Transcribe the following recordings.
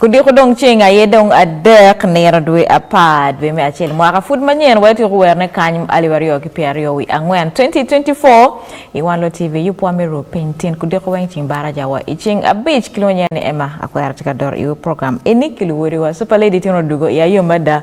Kudiko dong ceng aye dong adek nino dwe apar dwe me acel mwaka pud manyen wai tiko werne kany aliw aryo ki piero aryo wi angwen 2024 i wan lo tv yup wa me ru piny tin kudiko weng cing baraja wa i cing abic kilwonyo ni ema akwera tika dor iwe program ini kiluwori wa super lady tino dugo i ayo mada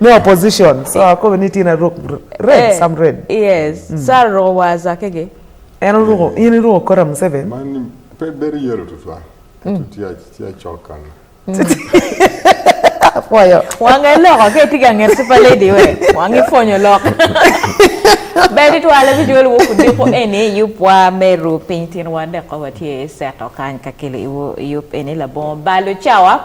no opposition so ako we need in a rook red eh, some red yes mm. sa ro was akege en ro in ro kora museveni man pe beri yero to fa mm. tia tia chokan apoyo wange loko ke tiga nger super lady we wange fonyo loko bedi to ala bi jol woku de ko ene yu pwa meru pintin wande ko watie seto kan kakile iwo yup ene la bon balo chawa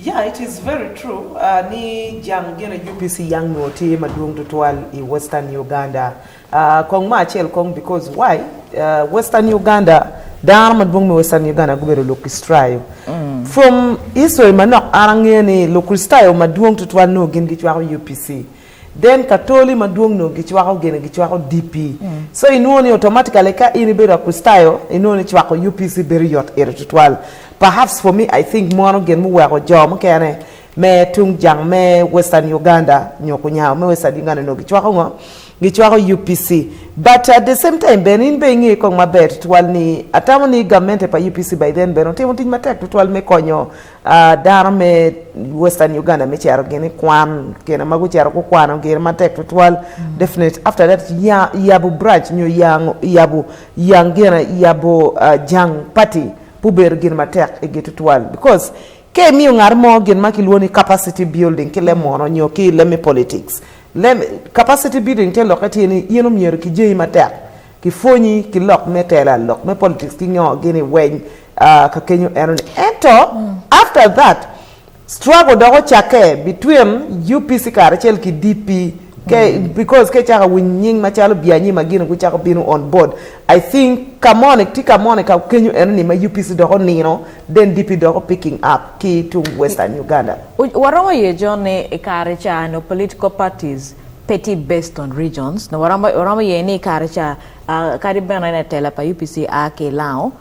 Yeah, it is very true. Uh, ni jang gene UPC yang no ti maduong to twal i Western Uganda. Uh, kong ma chel kong because why? Uh, Western Uganda dar maduong me Western Uganda gubero lokistrayo. Mm. From history manok arange ni lokistrayo maduong to twal no gin gi twal UPC. then katoli maduong no gichwako gene gichwako DP mm. so inuoni automatically ka in ibedo akustayo inuoni chwako UPC very yot iritual perhaps for me I think mono gen muweko jo mukene me tung jang me western Uganda nyoko nyao me western Uganda no gichwako ngo gichwako UPC but at the same time ben in being e kong maber twal ni atamo ni government e pa UPC by then ben otimo tich matek twal me konyo Uh, dano me western uganda me cero gini kwan kena ma gucero gukwano gin matek tutwal mm. definite after that ya, yabu branch nyo yang, yabu yang gina yabu uh, ah, jang party pubedo gin matek igi tutwal because ke miyo ngat mo gin ma kilwo ni capacity building ki lemono nyo ki leme politics leme capacity building te loke ti ni yeno myero ki jeyi matek ki fonyi ki lok me tela lok me politics ki nyo gini weny uh, kakenyo eno ni ento mm. after that struggle dok ocakke between UPC kare cel ki DP ke mm. because ke chaka winy nying machalo bianyi magino ku chaka bino on board i think kamone ti kamone ka kenyo eno ni ma UPC doko nino then DP doko picking up ki to western Uganda waromo ye jone e kare chano political parties petty based on regions no waromo ye ni kare cha uh, kari bena ne tela pa UPC ake lao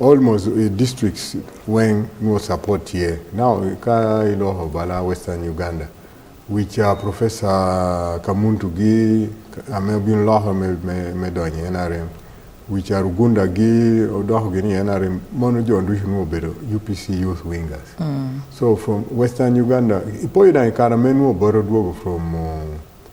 almost uh, districts when no support here now ka iloho bala western uganda which uh, professor kamuntu gi amebin loho me, me, me donye nrm which are rugunda gi odoho gi ni nrm mono jo ndushi no obedo upc youth wingers mm. so from western uganda ipoyudo kara menuo boro duogo from uh,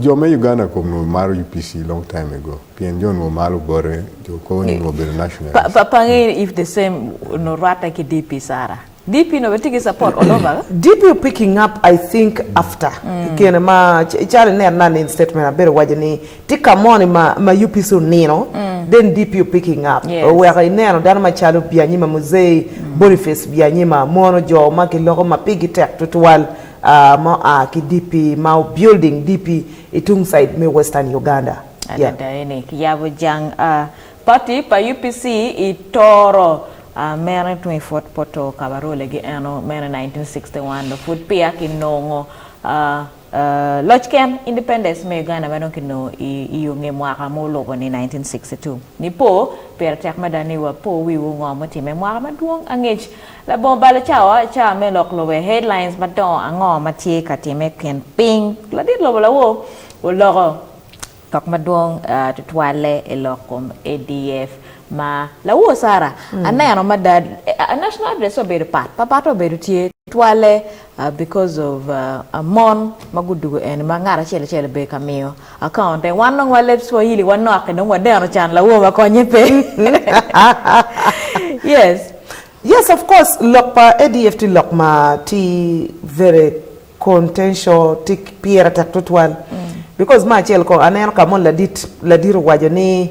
joma Uganda kono mar UPC long time ago. Pien John wo malo bore jo ko ni wo bere national. Pa pa pange if the same no rata ki DP Sara. DP no betigi support all over. DP picking up I think after. Mm. Kene ma chale ne na in statement a bere waje ni tika moni ma ma UPC nino. Mm. Then DP picking up. Yes. We are in no dan ma chalo bianyima muzei mm. Boniface bianyima mono jo ma ki logo ma pigi tek tutual. uh, mo a ki DP ma building DP i tung side me Western Uganda. Yeah. Adadayene ki yabo jang uh, party pa UPC i toro uh, mere tumi fot poto kabarole gi eno mere 1961 do fut pia ki nongo uh, uh, loch ken independence me Uganda ma donki no i, i yunge mwaka mo lobo ni 1962 ni po pere tek madani wa po wiwu ngo motime mwaka maduong angech Labongo balo cawa ca me lok lobe headlines madongo ango ma tye ka timme kin piny ladit lobo lawo oloko tok madwong uh, tutwalle i lok kom ADF ma lawo Sara mm. aneno madad uh, national address obedo pat papat obedo tye twale Uh, because of uh, a mon ma gudugo en ma ngat acel acel be ka miyo akaunte wan nong wa lep swahili wan noake dong wadeno can lawo ma konye pe yes yes of course lok pa adf ti lok ma ti very contential ti piera tak tutwal mm. because ma acel ko aneno ka mon ladit ladir wajo ni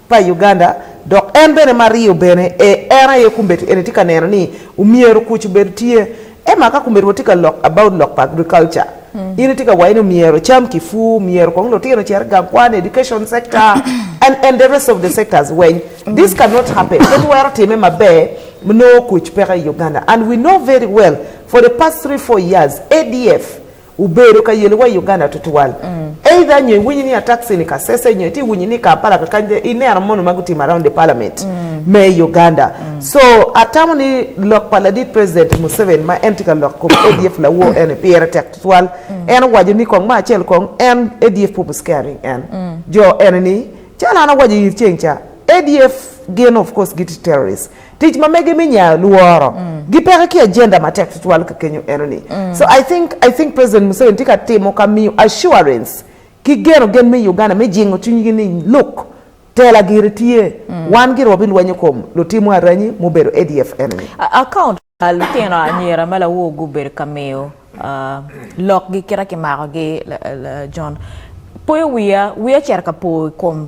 pa Uganda dok en bene mariyo bene e en aye kumbet ene tye ka neno ni omyero kuc obed tye ema ka kumbet watye ka lok about lok pa agriculture mm. in tye ka wayi ni omyero cam kifu omyero kong lutino cere gang kwan education sector and, and the rest of the sectors weny mm. this cannot happen ket wero time maber mnoo kuc peka i uganda and we know very well for the past three four years adf ubedo ka yelo wa i Uganda tutwal mm. either nyo iwinyi ni taxi ni Kasese nyo iti iwinyi ni Kampala kaka ineno mono ma gutimo around the parliament mm. me Uganda mm. so atamo ni lok pa ladit president Museveni ma en tye ka lok kom ADF lawo mm. en pire tek tutwal mm. en owaco ni kong ma acel kong en ADF purpose carrying en mm. jo en ni calo an awaco ir ceng ca ADF gin of course giti terrorists tic ma mege mi nya luoro mm. gi peka ki agenda ma tek tutwal ka kenyo eno ni mm. so i think i think president museveni tika timo ka miyo assurance ki geno gen mi uganda mi jingo chunygi ni look tela giri tye mm. wan giri wabi lwenyo kom lutimo aranyi mubedo adf eno ni account lutino anyira ma lawo gubedo ka miyo uh, lokgi kira ki makogi uh, john poyo wiya wiya cer ka po kom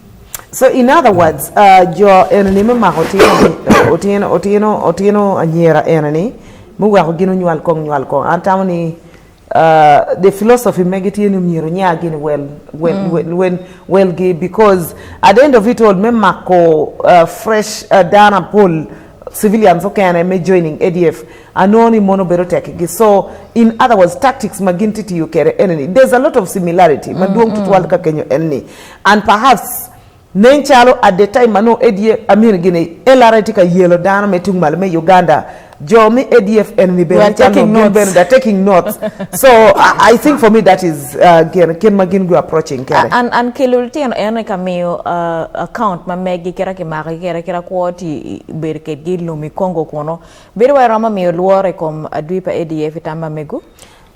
So in other words, uh, jo eneni me mako otino otino otino anyera eneni me weko gino nywal kong nywal kong an tamo ni uh, the philosophy mege tye ni myero nya gini well well mm. well, well, well gi because at the end of it all me mako uh, fresh uh, dana pol civilians okene me joining ADF anoni mono bero tek gi so in other words tactics magin titiyo kere eneni there's a lot of similarity mm, maduong mm, tutwal mm. ka kenyo enni And perhaps nen calo at the time mano ADF Amir Gine LRA tika yelo dano me tung malo me Uganda jo mi ADF en ni We are bene chalo taking gin notes. bene they're taking notes so I, I think for me that is uh, gen ken ma gin go approaching kere an an kelul tien en ka miyo uh, account ma megi kera ki mako ki kera kera kwo ti i- bed ke gi lumi kongo kono bedo wa roma miyo luore kom adwi pa ADF tamba megu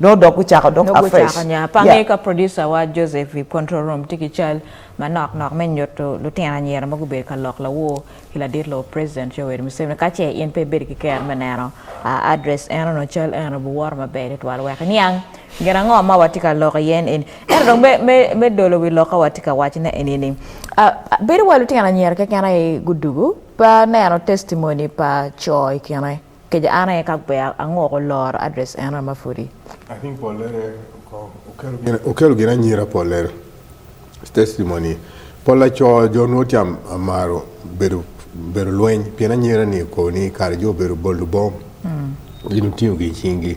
nodok gucako dok afresh pange ka producer wa Joseph i control room tye ki cal ma nok nok me nyuto lutino anyira ma gubedo ka lok lawo ki ladit lo president Yoweri Museveni ka ce in pe ibedo ki ker me neno address eno no cal eno buworo maber itwal wek niang gin ango ma watye ka loko yen en eno dong me dolo wi loka watye ka wacne eni ni bedo wa lutino anyira keken aye gudugu pa neno testimony pa co i kine Keja an aye ka gwer ango ko loro address en ma fodi. I think Polere okelo gina nyira Polere testimony Pola cho jo nuoti amaro bedo bedo lweny pien anyira ni ko ni kar jo bedo boldu bom mm. gino tiyo gi chingi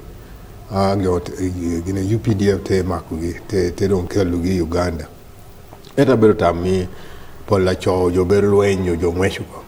a gyo gina UPDF te mako gi te te don kelu gi Uganda eta bedo tammi Pola cho jo bedo lweny jo ngweshu ko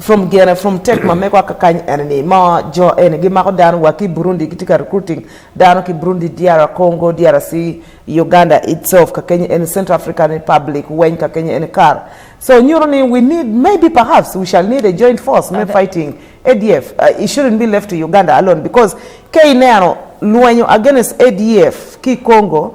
from gene from tek ma mekwa ka kany ene ni ma jo ene gimako dano wa ki burundi gitye ka recruiting dano ki burundi dr congo drc uganda itself ka kenya ene central african republic weny ka kenya ene kar so nyuto ni we need maybe perhaps we shall need a joint force me fighting adf uh, it shouldn't be left to uganda alone because ke ineno lwenyo against adf ki congo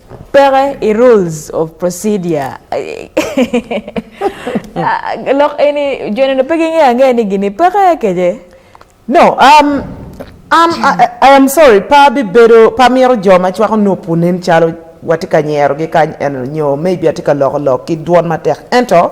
Pere i rules of procedure. Ah, Lok ini jono na pegi ngi ange ni gini pere keje. No, um, um, I, I am sorry, pa bi bedo, pa miro jo ma chwako nupu nen chalo watika nyero gi kany eno nyo, maybe atika loko lok ki duon matek. Ento,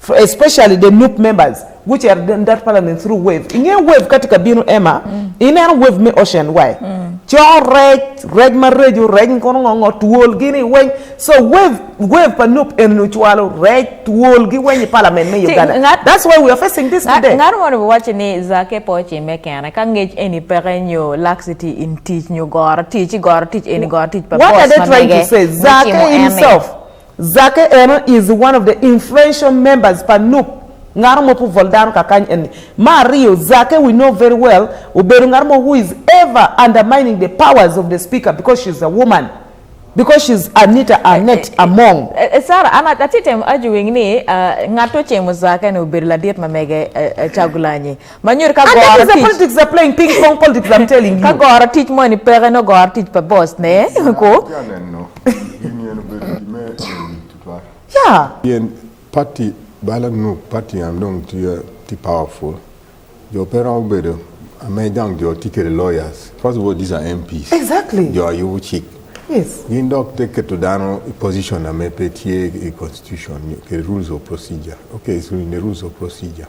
For especially the NUP members which are in that parliament through wave ing'e wave kati ka bino ema mm. ineno wave me ocean way mm. cho rej rej ma rejo rej nkono ng'ongo twol gini weny so wave wave pa nup en ochwalo rej twol gi weny parliament me uganda ngat, that's why we are facing this ngat, today ng'at mondo wacho ni zake po chime kena ka ngech eni peke nyo laxity in teach nyo goro teach goro teach eni goro teach pa what are they trying to say zake himself Zake Eno is one of the influential members pa NUP ng'ano mo puvol dano ka kany eni ma ariyo zake we know very well obedo ng'ano mo who is ever undermining the powers of the speaker because she's a woman because she's anita anet eh, eh, eh, among uh, sara ana atitem ajuwing ni uh, ng'ato chemo zake ni obedo ladiet mamege uh, chagulanyi Manyuri ka And that gora is the tich. politics they're playing, ping pong politics, I'm telling Ka you. gora tich mo ni pere no gora tich pa boss ne. Ko. Janeno, gini en bedo gime en tutwa. Yeah. Yen party bala nu party am dong ti ti powerful. Jo pera obedo ame jang jo ti kere lawyers. First of all, these are MPs. Exactly. Jo ayu chik. Yes. Gin dok te keto dano i position ame pe tie i constitution, ke rules of procedure. Okay, so in the rules of procedure.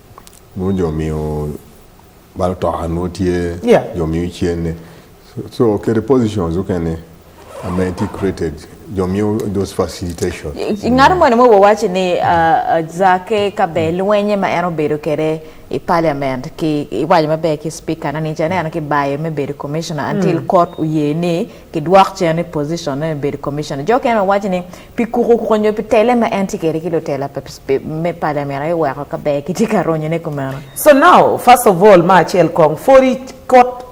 Mo jo miyo bal to anu tie yeah. jo miyo chiene. So, so okay, the positions okay ne amenity created jo miyo those facilitation. Ng'ano mo ne mo wawachi ni uh, uh, zake kabe lwenye ma eno bedo kere i parliament ki iwaco maber ki speaker nani ce aneno ki bayo me bedo commissioner until mm. court oye ni kidwok cen ni position ne bedo commissioner jo kene wawaco ni Pikuru konyo pi tele ma en tye kede ki lutela me pala mera i weko ka ber ki tye ka ronyone kumeno. So now, first of all, ma acel kong, fori kot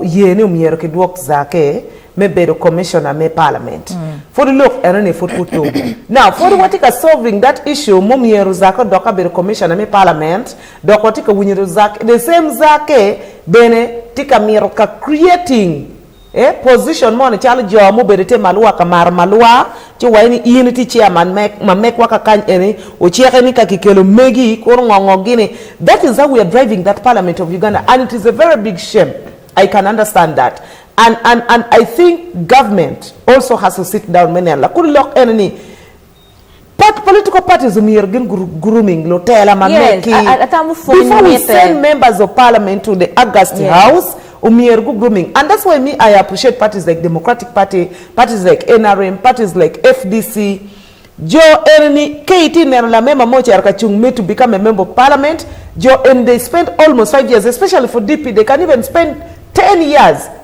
ye ni omyero ki dwok zake me bedo commissioner me parliament. Mm. Fori lok eno ni fori kutu. Now, fori wati ka solving that issue mo myero zake dok ka bedo commissioner me parliament, dok wati ka winyo zake, the same zake bene ti ka miro ka creating e position moni calo jo mubedo te malwa ka maro malwa ci waye ni in ti chairman ma mek waka kany eni ocheke ni kaki kelo megi koro ngongo gini that is how we are driving that parliament of Uganda and it is a very big shame I can understand that and and and I think government also has to sit down many and la kuri lok eni ni Part, political parties omiyo gin grooming lotela ma yes, meki before we send members of parliament to the August yes. house omiyo go grooming and that's why me I appreciate parties like Democratic Party parties like NRM parties like FDC jo en ni KT neno la mema mocha erka chung me to become a member of parliament jo and they spend almost five years especially for DP they can even spend 10 years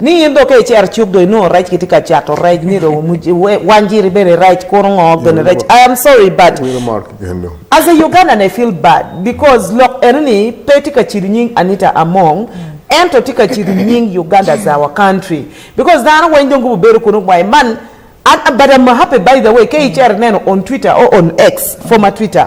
ni in doke icer chuk do inu rech kiti ka chato rech ni rowo muji wanjiri bere rech koro ngo gen rech i am sorry but as a ugandan i feel bad because look enni peti ka chiri nying anita among ento ti ka chiri nying uganda is our country because dhano weny dongo bubero kuno kwae man but i'm happy by the way ke icer neno on twitter or on x former twitter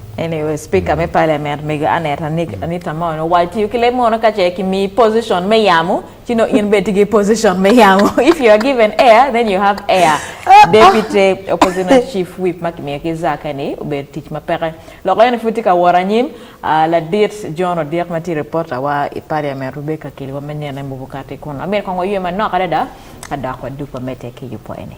Anyway, speaker me parliament me aneta nik anita mo no why you kile mo no ka che ki mi position me yamu you know in beti ki position me yamu if you are given air then you have air deputy opposition chief whip makimi ki zaka ni ubet tich mapere lo ko futi ka wora nyim ah, la dit John Odiek mati reporter wa i parliament Rebecca Kili wa menyana mbukati kono amir kongo yema no kada da kada kwa dupa mete ki yupo ene